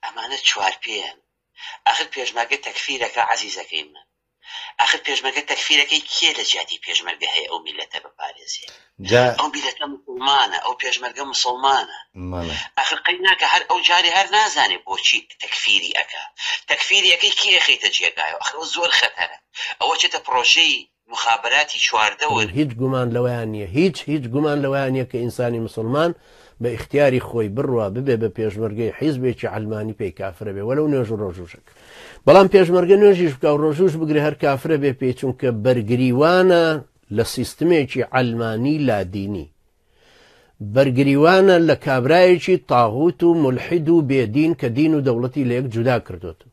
ئەمانە چوار پێیەن ئاخر پێشمەرگە تەکفیرەکە عەزیزەکەی من ئاخر پێشمەرگە تەکفیرەکەی کێ لە جیاتی پێشمەرگە هەیە ئەو میلەتە بپارێزێ جا ئەو میلەتە مسوڵمانە ئەو پێشمەرگە مسوڵمانە مەڵێ ئاخر قەی ناکە هەر ئەو جارێ هەر نازانێ بۆچی تەکفیری ئەکا تەکفیری ئەکەی کێ ئەخەیتە جێگایەوە ئاخر ئەوە زۆر خەتەرە ئەوە چێتە پڕۆژەی موخابەراتی چواردە وەر. هیچ گومان لەوەیا نیە هیچ هیچ گومان لەوەیا نیە کە ئینسانی موسڵمان بە ئیختیاری خۆی بڕوا ببێ بە پێشمەرگەی حیزبێکی عەلمانی پێی کافرە بێ وەلەو نوێژ و ڕۆژووش بکا بەڵام پێشمەرگە نوێژیش بکا و ڕۆژووش بگرێ هەر کافرە بێ پێی چونکە بەرگریوانە لە سیستمێکی عەلمانی لادینی بەرگریوانە لە کابرایەکی تاغوت و مولحید و بێدین کە دین و دەوڵەتی لە یەک جودا کردۆتەوە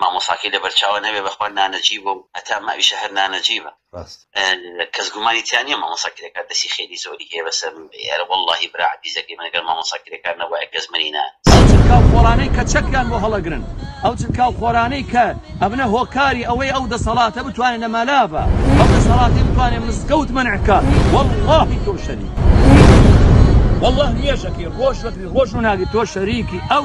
مامۆساکەی لەبەرچاوە نەبێ بەخوا نانەجیبە و هەتا ماویشە هەر نانەجیبە ڕاست. کەس گومانی تیا نیە مامۆسا کرێکار دەسی خێری زۆری هەیە بەسەر من بێ ئەرە وەڵاهی برا عەزیزەکەی من گەر مامۆسا کرێکار نەبوایە کەس منی نا. ئەو چرکاو خۆرانەی کە چەکیان بۆ هەڵەگرن ئەو چرکاو خۆرانەی کە ئەبنە هۆکاری ئەوەی ئەو دەسەڵاتە بتوانێ لە مالاڤە ئەو دەسەڵاتەی بتوانێ مزگەوت مەنع کا وەڵاهی تۆ شەریکی وەڵاه نوێژەکەی ڕۆژ وەکری ڕۆژ و ناگری تۆ شەریکی ئەو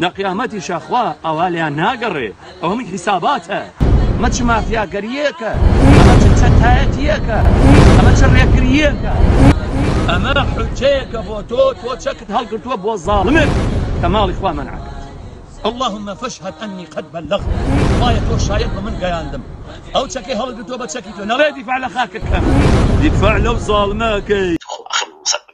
لە قیامەتیشا خوا ئاوا لێیان ناگەڕێ ئەوە من حیساباتە ئەمە چ مافیاگەرییەکە ئەمە چ چەتایەتییەکە ئەمە چ ڕێکرییەکە ئەمە حجەیەکە بۆ تۆ تۆ چەکت هەڵگرتووە بۆ زاڵمێک کە ماڵی خوا منعکرد اللهم فاشهد اني قد بلغت خوایە تۆ شاید بە من گەیاندم ئەو چەکەی هەڵگرتووە بە چەکی تۆ نەڵێ دیفاع لە خاکەکەم دیفاع لەو زاڵمەکەی